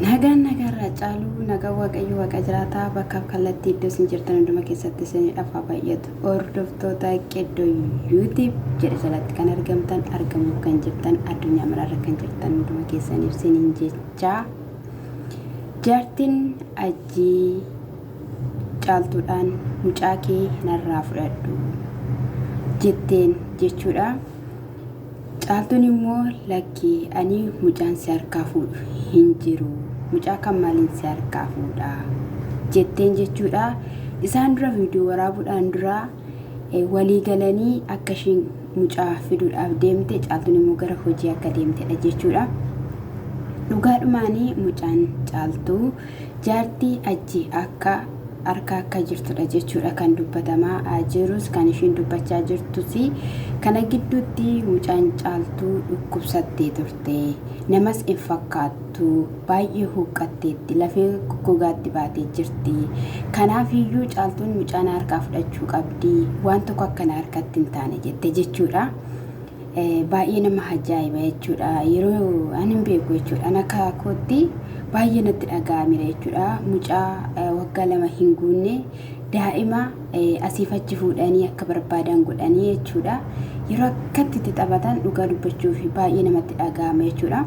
Nagaan nagaa irraa caaluu nagaa waaqayyo waaqa jiraataa bakkaaf kallattii iddoo isin jirtan hunduma keessatti isinidhaaf haa baay'atu. Hordoftoota Qeddoo Yuutiib jedha jalatti kan argamtan argamuuf kan jirtan addunyaa maraarra kan jirtan hunduma keessaniif siniin jechaa jaartiin ajjii caaltuudhaan mucaa kee narraa fudhadhu jetteen jechuudha. Caaltuun immoo lakki ani mucaan si harkaa fuudhu hin jiru mucaa kan maaliin si harkaa fuudha jetteen jechuudha. Isaan dura viidiyoo waraabuudhaan dura walii galanii akka isheen mucaa fiduudhaaf deemte caaltuun immoo gara hojii akka deemtedha jechuudha. Dhugaadhumaanii mucaan caaltuu Jaartii achi akka arka akka jirtudha jechuudha kan dubbatamaa jirus kan ishiin dubbachaa jirtus kana gidduutti mucaan caaltuu dhukkubsattee turte namas hin fakkaattu baay'ee huuqqatteetti lafee gogaatti baatee jirti kanaaf iyyuu caaltuun mucaan harkaa fudhachuu qabdi waan tokko akkana harkatti hin taane jette jechuudha. baay'ee nama hajaa'iba jechuudha yeroo ani hin beeku jechuudha an akka kootti baay'ee natti dhaga'amira jechuudha mucaa waggaa lama hin guunne daa'ima asiif achi fuudhanii akka barbaadan godhanii jechuudha yeroo akkatti itti taphatan dhugaa dubbachuuf baay'ee namatti dhaga'ama jechuudha.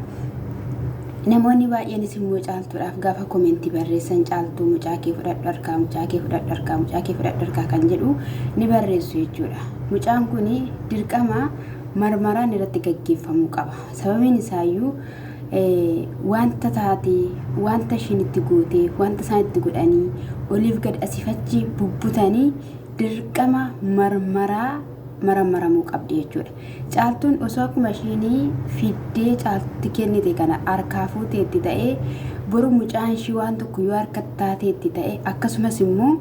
Namoonni baay'eenis immoo caaltuudhaaf gaafa komentii barreessan caaltuu mucaa kee fudhadhu harkaa mucaa kee fudhadhu harkaa mucaa kee fudhadhu harkaa kan jedhu ni barreessu jechuudha. Mucaan kun dirqama marmaraan irratti gaggeeffamuu qaba. Sababiin isaayyuu wanta taatee, wanta ishiin itti gootee, wanta isaan itti godhanii, oliif gad asiif achi bubbutanii dirqama marmaraa maramaramuu qabdi jechuudha. Caaltuun osoo akkuma ishiin fiddee caaltutti kennite kana harkaa fuuteetti ta'ee boru mucaan ishii waan tokko yoo harkatti taateetti ta'e akkasumas immoo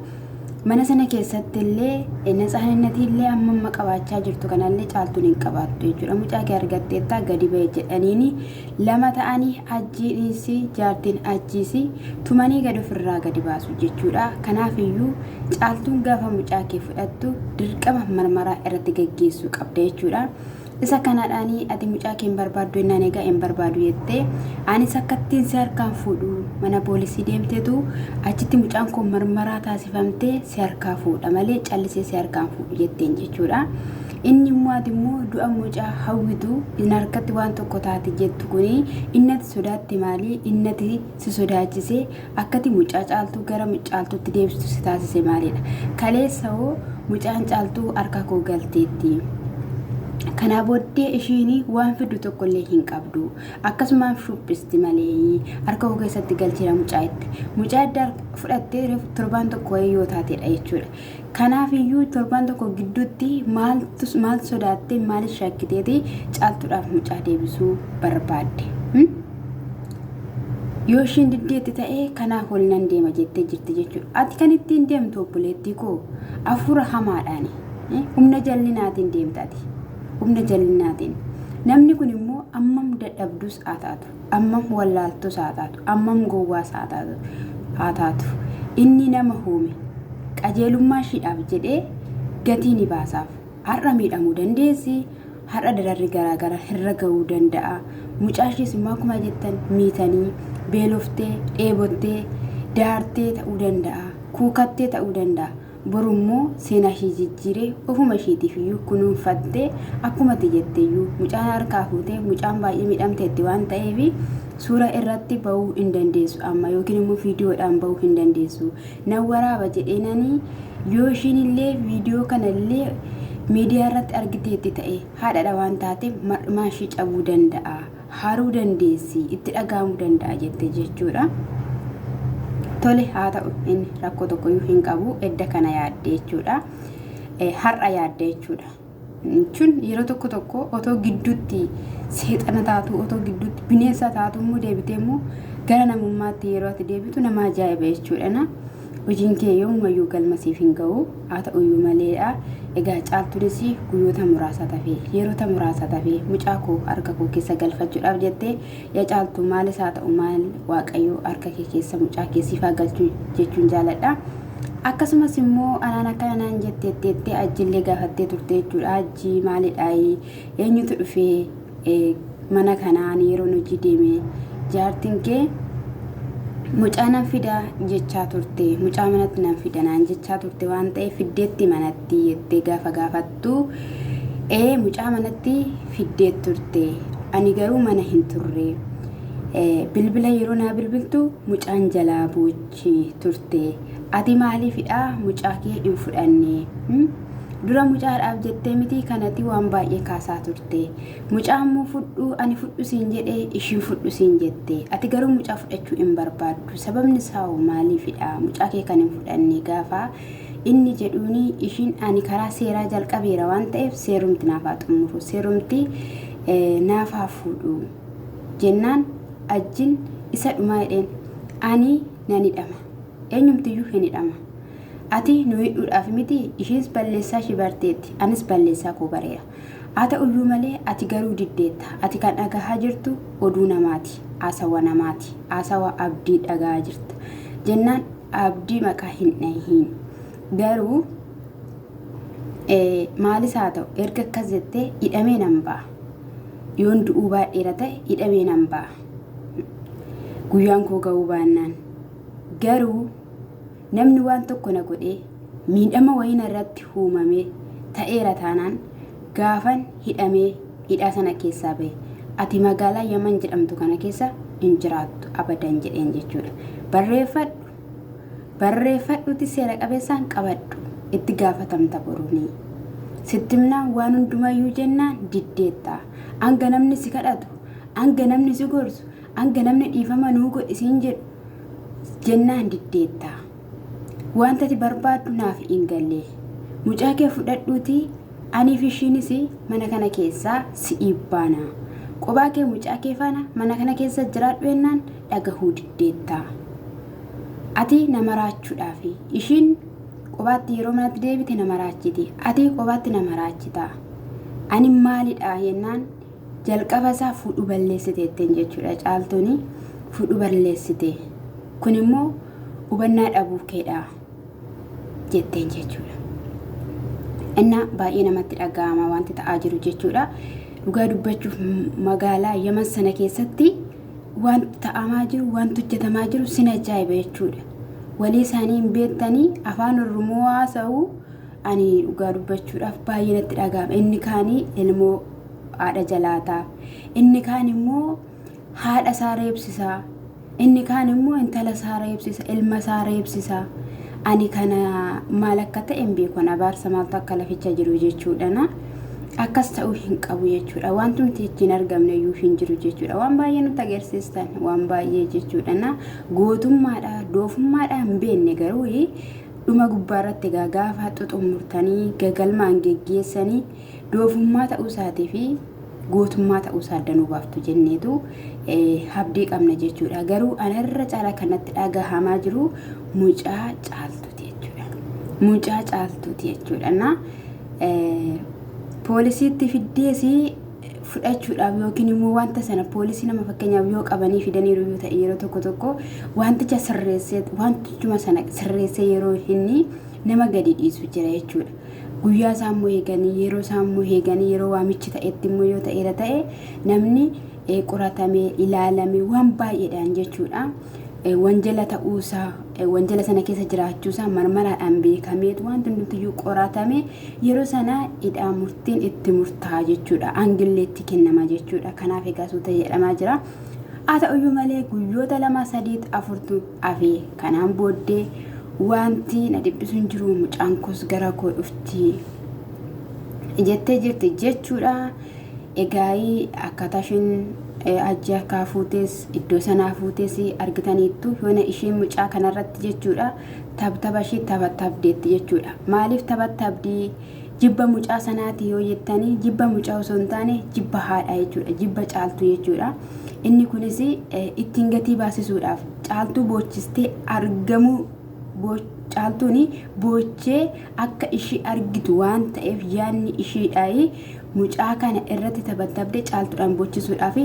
Mana sana keessatti illee natsaaninatii illee amma amma qabaachaa jirtu kanallee caaltuun hin qabaattu jechuudha. Mucaa kee argatteettaa gadi ba'e jedhaniini lama ta'anii ajjiinis jaartiin ajjiis tumanii gad ofirraa gadi baasu jechuudha. Kanaaf iyyuu caaltuun gaafa mucaa kee fudhattu dirqama marmaraa irratti gaggeessuu qabda jechuudha. Isa kanadhaani ati mucaa kee hin barbaaddu ennaan egaa hin barbaadu jettee anis akkattiin si harkaan fuudhu mana poolisii deemteetu achitti mucaan koo marmaraa taasifamtee si harkaa fuudha malee callisee si harkaan fuudhu jetteen jechuudha. Inni immoo ati immoo du'a mucaa hawwitu hin harkatti waan tokko taate jettu kuni innati sodaatte maali innati si sodaachisee akkati mucaa caaltuu gara caaltuutti deebistu si taasise maalidha? Kaleessa hoo mucaan caaltuu harka koo galteetti. Kanaa booddee ishiin waan fiddu tokkollee hin qabdu. Akkasumaan shuphisti malee harka koo keessatti galcheera mucaa itti. Mucaa adda fudhattee torbaan tokko wayii yoo taatedha jechuudha. Kanaaf iyyuu torbaan tokko gidduutti maaltu maal sodaattee maaliif shakkiteeti caaltuudhaaf mucaa deebisuu barbaadde. Hmm? Yoo ishiin diddeetti ta'ee kanaaf wal nan deema jettee jirti jechuudha. Ati kan ittiin deemtu obboleettii koo hafuura hamaadhaani. Eh, Humna jallinaatiin deemta ati. Humna jallinaatiin. Namni kun immoo ammam dadhabdus haa taatu. ammam wallaaltus haa taatu, ammam gowwaas haa taatu, haa taatu, inni nama uume, qajeelummaa ishiidhaaf jedhee gatii ni baasaaf. Har'a miidhamuu dandeessi, har'a dararri garaa garaa irra ga'uu danda'a. Mucaa ishiis immoo akkuma jettan miitanii, beeloftee, dheebottee, daartee ta'uu danda'a, kuukattee ta'uu danda'a. Boru immoo seenaa ishii jijjiiree ofuma ishiitiif iyyuu kunuunfattee akkuma ati jette iyyuu mucaan harkaa fuutee mucaan baay'ee miidhamteetti waan ta'eef suura irratti ba'uu hin dandeessu amma yookiin immoo viidiyoodhaan ba'uu hin dandeessu. Nan waraaba jedheenanii yoo ishiin illee viidiyoo kana illee miidiyaa irratti argiteetti ta'e haadhaadha waan taateef mar'umaa ishii cabuu danda'a. haruu dandeessi itti dhaga'amu danda'a jette jechuudha. Tole haa ta'u inni rakkoo tokkoyyuu hin qabu edda kana yaadde jechuudha. Har'a yaadde jechuudha. Jechuun yeroo tokko tokko otoo gidduutti seexana taatu otoo gidduutti bineensa taatu immoo deebitee immoo gara namummaatti yeroo ati deebitu nama ajaa'iba jechuudha. Hojiin kee yoomumayyuu galma siif hin ga'u. Haa ta'uyyuu malee dha. Egaa Caaltuunis guyyoota muraasaat hafe. Yeroota muraasaat hafe. Mucaa koo harka koo keessa galfachuudhaaf jette. Yaa Caaltuu maalis haa ta'u maal Waaqayyo harka kee keessa mucaa kee siif haa galchu jechuun jaaladha. Akkasumas immoo anaan akkana naan jetteetti jettee Hajjillee gaafattee turte jechuudha. Hajji maalidhaayi? Eenyutu dhufee? mana kanaa ani yeroon hojii deeme jaartiin kee mucaa nan fida jechaa turte mucaa manatti nan fida naan jechaa turte waan ta'eef fiddeetti manatti jettee gaafa gaafattu ee mucaa manatti fiddee turte ani garuu mana hin turre bilbila yeroo naa bilbiltu mucaan jalaa boochi turte ati maaliifidha mucaa kee hin fudhanne Dura mucaadhaaf jettee mitii kanati waan baay'ee kaasaa turte. Mucaa ammoo fudhu ani fudhu siin jedhe ishiin fudhu siin jette. Ati garuu mucaa fudhachuu hin barbaaddu. Sababni isaa hoo maaliifidha? Mucaa kee kan hin fudhanne gaafa inni jedhuuni ishiin ani karaa seeraa jalqabeera waan ta'eef seerumti naaf haa xumuru. Seerumti eh, naaf haa fuudhu. Jennaan ajjin isa dhumaa jedheen ani nan hidhama. Eenyumtiyyuu hin hidhama. Ati nu hidhuudhaaf miti ishiins balleessaa ishii barteetti anis balleessaa koo bareera. Haa ta'uyyuu malee ati garuu diddeetta. Ati kan dhagahaa jirtu oduu namaati. Haasawa namaati. Haasawa abdii dhagahaa jirta. Jennaan abdii maqaa hin dhahiin. Garuu maalis haa ta'u erga akkas jettee hidhamee nan ba'a. Yoon du'uu baadheera ta'e hidhamee nan ba'a. Guyyaan koo ga'uu baannaan Garuu namni waan tokko na godhee miidhama wayii narratti uumamee ta'eera taanaan gaafan hidhamee hidhaa sana keessaa bahe ati magaalaa Yaman jedhamtu kana keessa hin jiraattu abadan jedheen jechuudha. Barreeffadhu barreeffadhuuti seera qabeessaan qabadhu itti gaafatamta boruunii. Sittimnaan waan hundumayyuu jennaan diddeetta. Hanga namni si kadhatu, hanga namni si gorsu, Hanga namni dhiifama nuu godhi siin jedhu jennaan diddeetta. Wanta ati barbaaddu naaf hin galle. Mucaa kee fudhadhuutii anii fi ishiinis mana kana keessaa si'ii baana. Qophaa kee mucaa kee faana mana kana keessa jiraadhu jennaan dhagahuu diddeetta. Ati na maraachuudhaaf ishiin qophaatti yeroo manatti deebite na maraachiti. Ati qophaatti na maraachita. Ani maalidha jennaan Jalqaba isaa fuudhu balleessite jetteen jechuudha caaltuun fuudhu balleessite kun immoo hubannaa dhabuu keedha jetteen jechuudha. Innaa baay'ee namatti dhaga'ama wanti ta'aa jiru jechuudha. Dhugaa dubbachuuf magaalaa Yaman sana keessatti wanti ta'amaa jiru wanti hojjetamaa jiru sin ajaa'iba jechuudha. Walii isaanii hin beektanii afaan Oromoo haasa'u ani dhugaa dubbachuudhaaf baay'ee natti dhaga'ama. Inni kaanii ilmoo haadha jalaataa. Inni kaan immoo haadha isaa reebsisaa. Inni kaan immoo intala isaa reebsisa, ilma isaa reebsisa. Ani kana maal akka ta'e hin beeku. Ani abaarsa maaltu akka laficha jiru jechuudhana. Akkas ta'uu hin qabu jechuudha. Wantumti ittiin argamne iyyuu hin jiru jechuudha. Waan baay'ee nutti agarsiistan waan baay'ee jechuudhana. Gootummaadha, doofummaadha hin beekne garuu Dhuma gubbaarratti egaa gaafa xuxummurtanii gagalmaan geggeessani doofummaa ta'uusaatii fi gootummaa ta'uusaa adda nuu baaftu jenneetu habdii qabna jechuudha. Garuu ana irra caalaa kan natti dhagahamaa jiru mucaa caaltuuti jechuudha. Mucaa caaltuuti jechuudha. Na poolisiitti fiddeesi fudhachuudhaaf yookiin immoo wanta sana poolisii nama fakkeenyaaf yoo qabanii fidaniiru yoo ta'e yeroo tokko tokko wanticha sirreessee wantichuma sana sirreessee yeroo inni nama gadi dhiisu jira jechuudha. Guyyaa isaa immoo eeganii yeroo isaa immoo eeganii yeroo waamichi ta'etti immoo yoo ta'eera ta'e namni eh, qoratamee ilaalamee waan baay'eedhaan jechuudha. Eh, Wanjala ta'uusaa eh, wanjala sana keessa jiraachuusaa marmaraadhaan beekameetu wanti hundumtiyyuu qoratamee Yeroo sana idhaa murtiin itti murtaa'a jechuudha. Aangillee itti kennama jechuudha. Kanaaf egaa suuta jedhamaa jira. Haa ta'uyyuu malee guyyoota lama sadii afurtu hafee kanaan booddee wanti na dhiphisu hin jiru mucaan koos gara koo dhufti jettee jirti jechuudha. Egaa akkaataa isheen hajji harkaa fuutes iddoo sanaa fuutes argitaniittu yoona isheen mucaa kanarratti jechuudha. Tabtaba ishii tabatabdeetti jechuudha. Maaliif tabatabdi? Jibba mucaa sanaati yoo jettanii jibba mucaa osoo hin taane jibba haadhaa jechuudha. Jibba caaltuu jechuudha. Inni kunis ittiin gatii baasisuudhaaf caaltuu boochistee argamuu caaltuun boochee akka ishii argitu waan ta'eef yaadni ishiidhaa Mucaa kana irratti tabatabde caaltudhaan bochisuudhaaf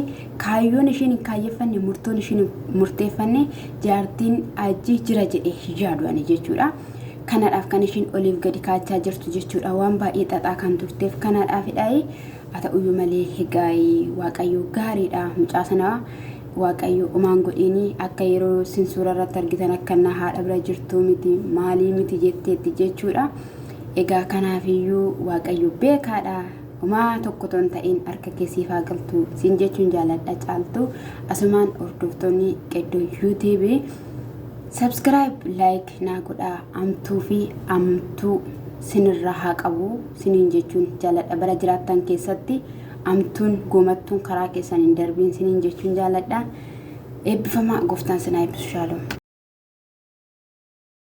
kaayyoon ishiin hin kaayyeffanne murtoon ishiin hin murteeffanne jaartiin ajji jira jedhe hin yaadu ani jechuudha. Kanadhaaf kan ishiin oliif gadi kaachaa jirtu jechuudha waan baay'ee xaxaa kan turteef kanaadhaafidhaayi haa ta'uyyuu malee hegaayi waaqayyo gaariidha mucaa sana waaqayyo umaan godhiini akka yeroo sin suura irratti argitan akka innaa haadha bira jirtuu miti maalii miti jetteetti jechuudha. Egaa kanaaf iyyuu Waaqayyo beekaadha. Homaa tokko otoo hin ta'in harka kee siif haa galtu siin jechuun jaaladha caaltu. Asumaan hordoftoonni qeddoo YouTube subscribe like naa godhaa amtuu fi amtuu sinirraa haa qabu siniin jechuun jaaladha bara jiraattan keessatti amtuun goomattuun karaa keessan hin darbiin siniin jechuun jaaladha. Eebbifamaa gooftaan sinaa eebbisu shaalom.